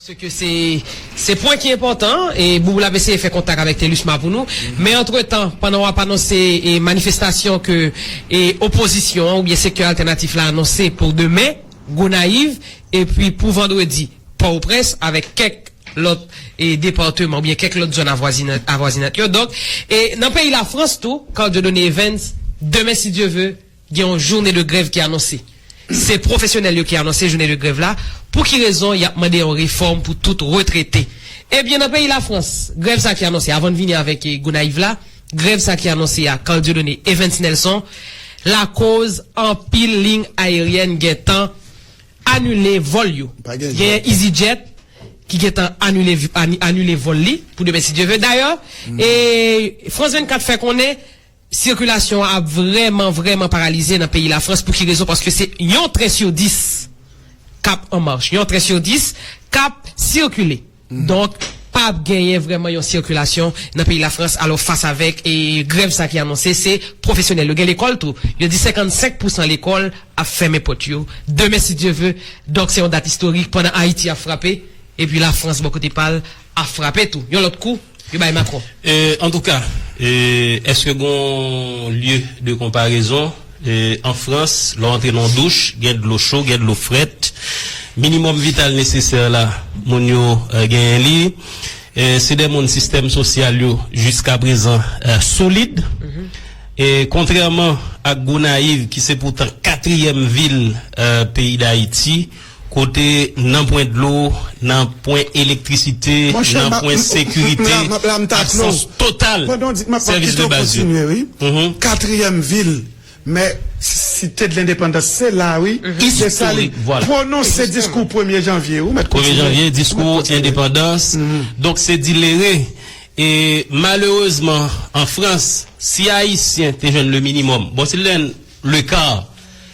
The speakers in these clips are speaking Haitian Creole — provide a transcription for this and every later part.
Se ke se se pwen ki enpòtan e Boubou l ap eseye fè kontak avèk Thélusma pou nou. Men antretan, pandan w ap anonse e manifestasyon ke e opozisyon an oubyen sektè altènatif la anonse pou demen, Gonayiv, epi pou vandredi, Pòtoprens, avèk kèk lòt e departeman oubyen kèk lòt zòn avwazina avwazinant yo. Donk, e nan peyi Lafrans tou, Carl Dieudonné Evans, demen si Dye ve, Gen yon joune de grèv ki anonse. Se pwofesyonèl yo ki anonse joune de grèv la. Pou ki rezon y ap mande yon refòm pou tout retrete? Ebyen nan peyi Lafrans, grèv sa ki anonse, avan n vini avèk Gonayiv la, grèv sa ki anonse a, Carl Dieudonné, Evens Nelson, lakoz anpil liy ayeryèn gen tan anile vòl yo. Genyen Easyjet ki gen tan anile vòl li pou demen si Dye ve. Dayè, France 24 fè konnen Sikilasyon an ap vrèman vrèman paralize nan peyi Lafrans pou ki rezon paske se yon tren sur 10 kap an march, yon tren sur 10 kap sikile. Donk pap genyen vrèman yon sikilasyon nan peyi Lafrans alò fas avèk grèv sa ki anonse se pwofesyonèl yo gen lekòl tou yo di 55 pou san lekòl ap fèmen pòt yo demen si Dye ve donk se yon dat istorik pandan Ayiti ap frape epi Lafrans bò kote pal a frape tou yon lòt kou yo bay Macron. Antouka, èske gon lye de konparezon? An Frans, lè w antre nan yon douch, gen dlo cho, gen dlo frèt. Minimòm vital nesesè la, moun yo genyen li. Se de moun sistèm sosyal yo jiskaprezan solid. Kontrèman ak Gonayiv ki se poutan katriyèm vil peyi Dayiti, Kote nan pwen dlo, nan pwen elektrisite, nan pwen sekirite, absans total sèvis de baz yo. Premye janvye, diskou endepandans, donk se dilere. E malerezman an Frans, si Ayisyen te jwenn le minimòm, bon si l te jwenn le kar.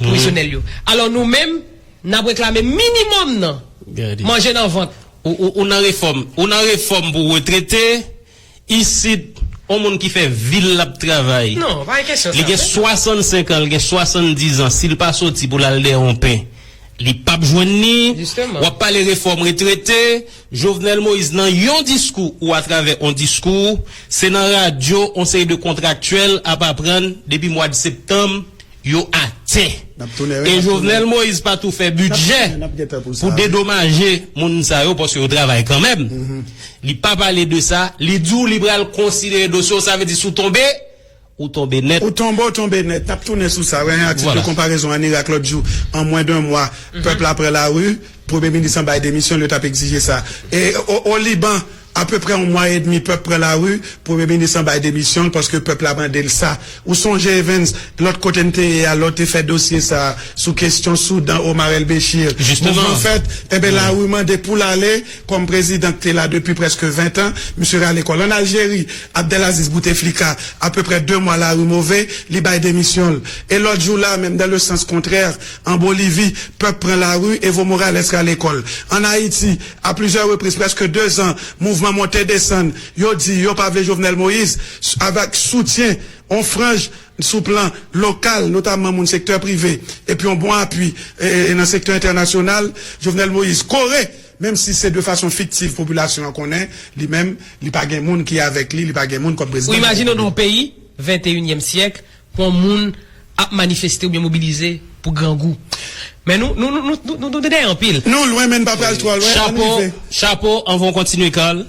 pwovizyonèl yo. Alò nou menm, n ap reklame minimòm nan, manje nan vant. Ou nan refòm, ou nan refòm pou retrete, isit, yon moun ki fè vi l l ap travay, li gen 65 an, li gen 70 an, si l pa soti pou l al dèyè yon pen, li p ap jwenn ni, w ap pale refòm retrete, Jovenel Moïse nan yon diskou ou atravè yon diskou, se nan radyo yon seri de kontraktyèl ap aprann depi mwad septanm, yo atè e Jovenel Moïse pa tou fè bidjè pou dedomaje moun sa yo paske yo travay kanmenm li pa pale de sa li di w li pral konsidere dosye w sa vle di si w tonbe ou tonbe nèt. Ou tonbe w tonbe nèt. N ap tounen sou sa. Wè yon atik de konparezon an Irak lòt jou an mwen de mwa pèp la pran lari premye minis lan bay demisyon l yo t ap egzije sa e o Liban. Apeprè yon mwa edmi pèp pran lari, premye minis lan bay demisyon l paske pèp la mande l sa. Ou sonje Evens, lòt kote n te ye a, lè w te fè dosye sa a sou kesyon Soudan, Omar El Bechir, mouvman fèt, enben lari mande pou l ale kòm prezidan k te la depi prèske ventan, misye rale kò l. Ann Aljeri, Abdelaziz Bouteflika, apeprè de mwa lari move, li bay demisyon l. E lòt jou la a menm, dans le sens contraire, an Bolivi, pèp pran lari, Evo Morales rale kò l. Ann Ayiti, A plizyè repriz, prèske 2 zan mouvman monte desann yo di yo pa vle Jovenel Moïse, avèk soutyen on franj sou plan lokal, notamman moun sektè prive, epi on bon apui nan sektè entènasyonal, Jovenel Moïse kore, menm si se de fason fiktiv popilasyon an konnen li menm li pa gen moun ki avèk li, li pa gen moun kòm prezidan nan peyi a. Ou imajine w nan on peyi, venteyinyèm syèk, Yon moun ap manifeste oubyen mobilize pou grangou. Men nou, nou, nou, nou, nou, nou dèyè anpil. Nou lwen men n pa pral twò lwen, ann rive. Chapo, chapo, anvan w kontinye Carl,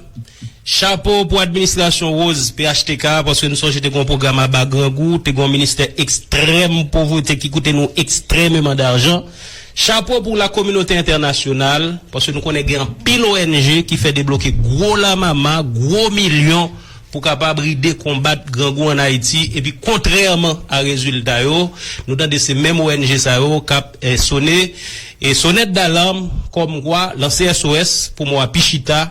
chapo pou administrasyon Rose phtk a, paske n sonje te gen yon pwogram aba grangou, te gen yon ministè ekstrèm povrete ki koute nou ekstrèmeman darjan. Chapo pou lakominote entènasyonal, paske nou konnen gen anpil ONG ki fè debloke gwo lamama, gwo milyon. pou kapab ride konbat grangou an Ayiti epi kontrèman a rezilta yo nou tande se menm ong sa yo k ap sone sonèt dalarm kòmkwa lanse SOS pou mwa pi chita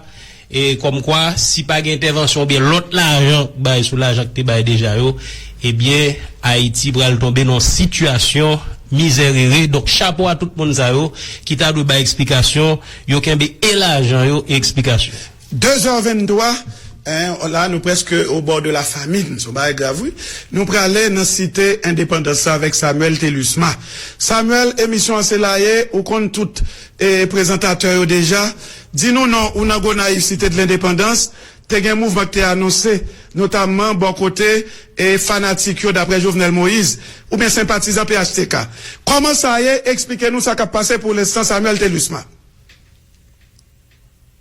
kòmkwa si pa gen entèvansyon oubyen lòt lajan k bay sou lajan k te bay deja yo ebyen Ayiti pral tonbe nan yon sitiyasyon mizèrere donk chapo a tout moun sa yo ki ta dwe bay eksplikasyon yo kenbe e lajan yo e eksplikasyon. 2 zè 23 en la nou preske o bò de la famine son bagay grav wi nou prale nan site endepandans sa avek Samuel Thelusma Samuel emisyon an se la ye ou konn tout e prezantatè yo deja di nou non ou nan Gonayiv site de lendepandans te gen mouvman ki te anonse notamman bò kote e fanatik yo daprè Jovenel Moise ou byen senpatizan phtk kòman sa ye esplike nou sa kap pase pou l enstan Samuel Thelusma.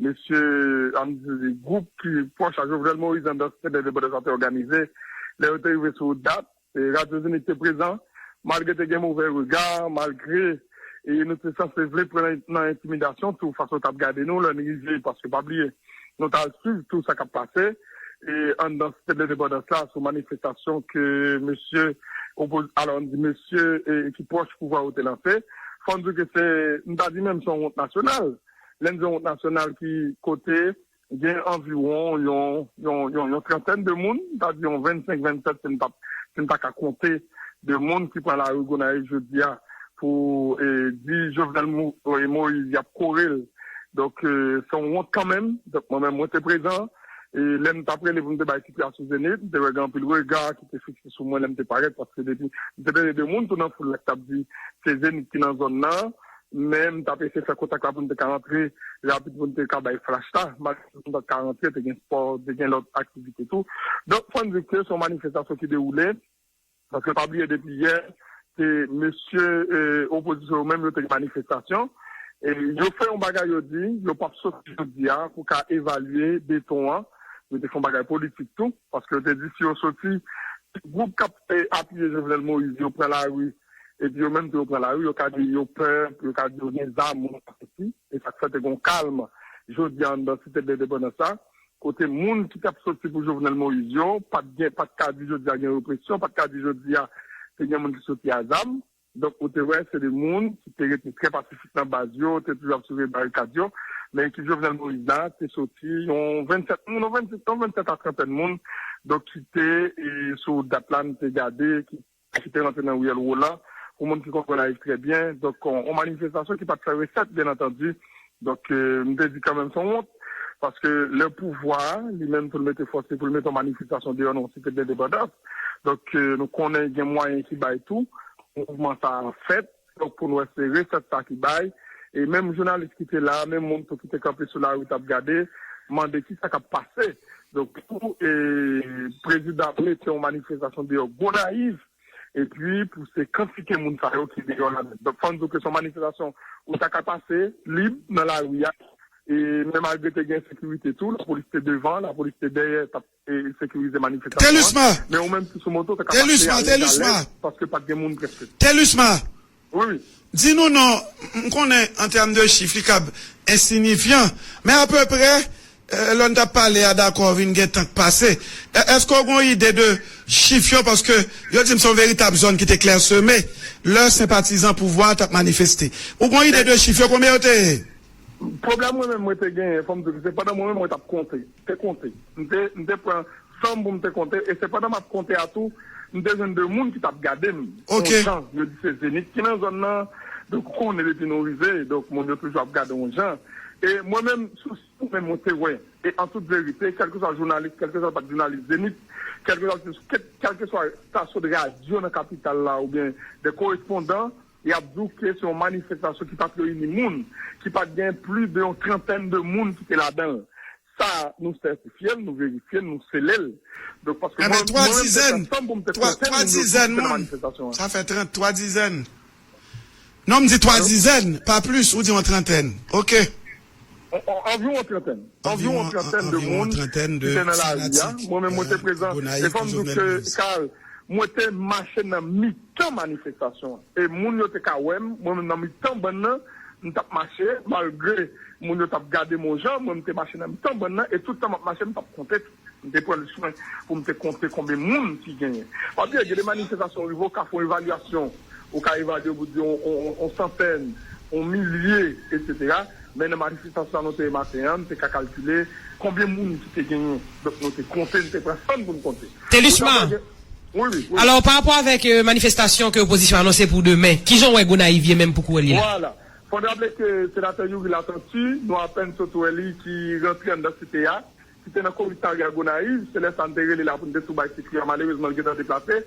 Mesye Amzili, gwoup ki pwòch a Jovenel Moïse nan dans Tenten Endepandans la te òganize. Lè yo te rive sou dat, Radyo Zenith te prezan. Malgre te gen movè rega, malgre nou te sanse vle pran nan entimidasyon tou fason yo t ap gade nou lè n rive, paske pa bliye nou t al suiv tou sa k ap pase ann dans Tenten Endepandans la sou manifestasyon ke mesye opo, alò n di mesye ki pwòch pouvwa yo te lanse. Fò n di ke se, m ta di menm se yon wont nasyonal. Lè n di yon wout nasyonal ki kote gen anviwon yon trantèn de moun, m ta di yon vennsenk, vennsèt si n pa ka konte de moun ki pran lari Gonayiv jodi a pou di Jovenel Moïse y ap kore l. Donk se yon wont kanmenm. Donk mwen menm mwen te prezan. Lè m t ap rele pou m te bay titre a sou Zenith, m te wè gen anpil rega ki te fikse sou mwen lè m te parèt paske depi, m te tande de moun tou nan foul la ki t ap di se Zenith ki nan zòn nan. Men m t ap eseye fè kontak la pou n te ka rantre rapid pou n te ka bay flash la. Malgre nou pa t ka rantre, te gen spò, te gen lòt aktivite tou. Donk fò n di ke se yon manifestasyon ki dewoule, paske pa bliye depi yè ke mesye opozisyon yo menm yo te gen manifestasyon. Yo fè yon bagay yo di yo p ap soti jodi a pou ka evalye beton an. Yo te fè yon bagay politik tou. Paske yo te di si yo soti, si gwoup k ap apiye Jovenel Moïse yo pran lari epi yo menm tou yo pran lari, yo ka di yo pè, yo ka di yo gen zam ou sa soti. E sa k fè te gen yon kalm jodi a anndan Site Dlendepandans la, kote moun ki t ap soti pou Jovenel Moïse yo pa t gen, pa t ka di jodi a gen represyon, pa t ka di jodi a te gen moun ki soti a zam. Donk ou te wè se 2 moun ki te rete trè pasifik nan baz yo, te toujou ap soulve barikad yo. Men ekip Jovenel Moïse la te soti yon 27 moun, yon 26, yon 27 a trantèn moun donk ki te sou wout dat la, nou te gade ki te rantre nan riyèl Roland pou moun ki konn Gonayiv trè byen. Donk yon manifestasyon ki pa t fè resèt byen antandi Donk, m te di kanmenm son wont, paske lè pouvwa a, li menm pou l mete fòs li, pou l mete yon manifestasyon deyò nan yon site dendepandans, donk nou konnen gen mwayen ki bay tou pou mouvman sa a fèt, donk pou n wè se resèt sa ki bay. E menm jounalis ki te la a, menm moun tou ki te kanpe sou lari t ap gade, mande ki sa k ap pase. Donk pou prezidan ap mete yon manifestasyon deyò Gonayiv, epi pou se kantite moun sa yo ki deyò la donk fò n di w ke se yon manifestasyon ou ta ka pase lib nan lari a e men malgre te gen sekirite tou lapolis te devan lapolis te dèyè t ap sekirize manifestasyon an men ou menm ki sou moto w ta ka pase ale alèz paske pat gen moun prèske. Ruth, Di nou non, m konnen an tèm de chif li kab ensinifyan, men apeprè lè n t ap pale a dakò vin gen tan k pase. Èske w gen yon ide de chif yo? Paske yo di m se yon veritab zòn ki te klèseme lè senpatizan pouvwa a t ap manifeste. Ou gen yon ide de chif yo, konbyen yo te ye? Ruth, Pwoblèm mwen menm mwen te genyen, fò m di w, se pandan mwen menm mwen t ap konte. te konte. M te m te pran san m pou m te konte e se pandan m ap konte a tou m te jwenn 2 moun ki t ap gade m Ok. on jan. Yo di se Zenith ki nan zòn nan, donk ou konnen depi nou rive, donk moun yo toujou ap gade w on jan. E mwen menm, sou si mwen menm mwen te wè e an tout verite, kèlkeswa jounalis, kèlkeswa l pa t jounalis Zenith, kèlkeswa l te sou kèlkeswa stasyon de radyo nan kapital la oubyen de korespondan, Y ap di w ke se yon manifestasyon ki pa t reyini moun, ki pa t gen plis de yon trantèn de moun ki te ladan l. Sa a, nou sètifye l, nou verifye l, nou sele l. Donk, paske mwen menm te fè sèm pou m te konte moun yo tou ki te nan manifestasyon an. Sa fè trant, twa dizèn. Non, m di twa dizèn, pa plis, ou di yon trantèn. Ok. Anviwon trantèn anviwon trantèn de moun ki te nan lari a, mwen menm mwen te prezan e fòm di w ke Carl mwen te mache nan mitan manifestasyon an e moun yo te ka wè m mwen menm nan mitan bann nan m t ap mache malgre moun yo t ap gade m on jan mwen m te mache nan mitan bann nan e tout tan m ap mache m t ap konte tou. M te pran swen pou m te konte konbe moun ki genyen. Pa bliye, gen de manifestasyon rive ou ka fè yon evalyasyon, ou ka evalye pou di yon santèn, yon milye, etsetera. Men nan manifestasyon nou te ye maten an, m te ka kalkile konbyen moun ki te genyen. Donk nou te konte, nou te pran san pou nou konte. Telusma, alò pa rapò avèk manifestasyon ke opozisyon anonse pou demen, ki jan ou wè Gonayiv ye menm pou kouwè li la? Vwala. Fò n raple ke senatè Youri Latortue, nou apèn sot wè li ki rantre anndan site a, ki te nan komisarya Gonayiv, se lè sa n te rele la pou n te tou bay ti fi a, malerezman l gentan deplase,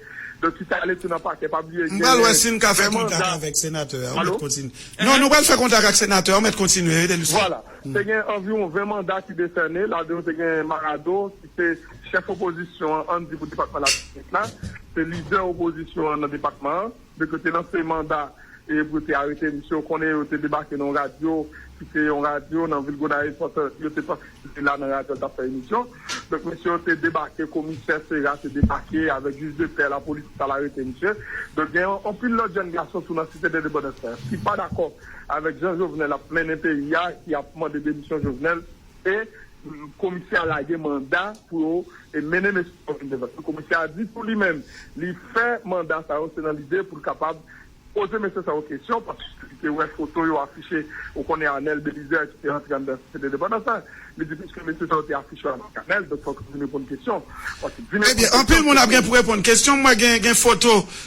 donk ki te ale tou nan pakè, pa bliye M pral wè genyen si n ka fè men kontak manda. avèk senatè a, ou mèt Alo? kontinye. Non, Ehe. nou pral fè kontak ak senatè a, ou mèt kontinye, rete l sou. Vwala. Te gen anviwon 20 manda ki desène, ladan yo te gen Marado, ki se chèf opozisyon an, an n di pou depatman Latibonit la, se lidè opozisyon an nan depatman an. Yo te lanse manda pou yo te arete misye. Ou konnen yo te debake nan yon radyo ki se yon radyo nan vil Gonayiv paske yo te panse se te la nan radyo l t ap fè emisyon. Donk mesye yo te debake, komisè Sera te debake avèk jij de pè, lapolis ki t al arete misye. Donk gen anpil lòt jèn gason tou nan Site Endepandans la ki pa dakò avèk jan Jovenel ap mennen peyi a, ki ap mande demisyon Jovenel. e komisè a lage manda pou yo mennen mesye sa yo vin devan komisè a di tou li menm li fè manda sa yo se nan lide pou l kapab poze mesye sa yo kesyon paske li te wè foto yo afiche ou konnen Anèl Belizè ki te rantre anndan site Lendepandans la li di piske mesye sa yo te afiche avèk Anèl donk fòk yo vin reponn kesyon paske di mesye sa yo Ebyen anpil moun ap gen pou reponn kesyon mwen gen foto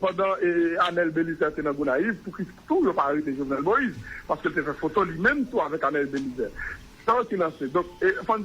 Pandan Anel Belizaire te nan Gonayiv, pou kisa tou yo pa arete Jovenel Moïse? Paske l te fè foto li menm tou avèk Anel Belizaire. Sa yo ki lanse. Donk, fò n.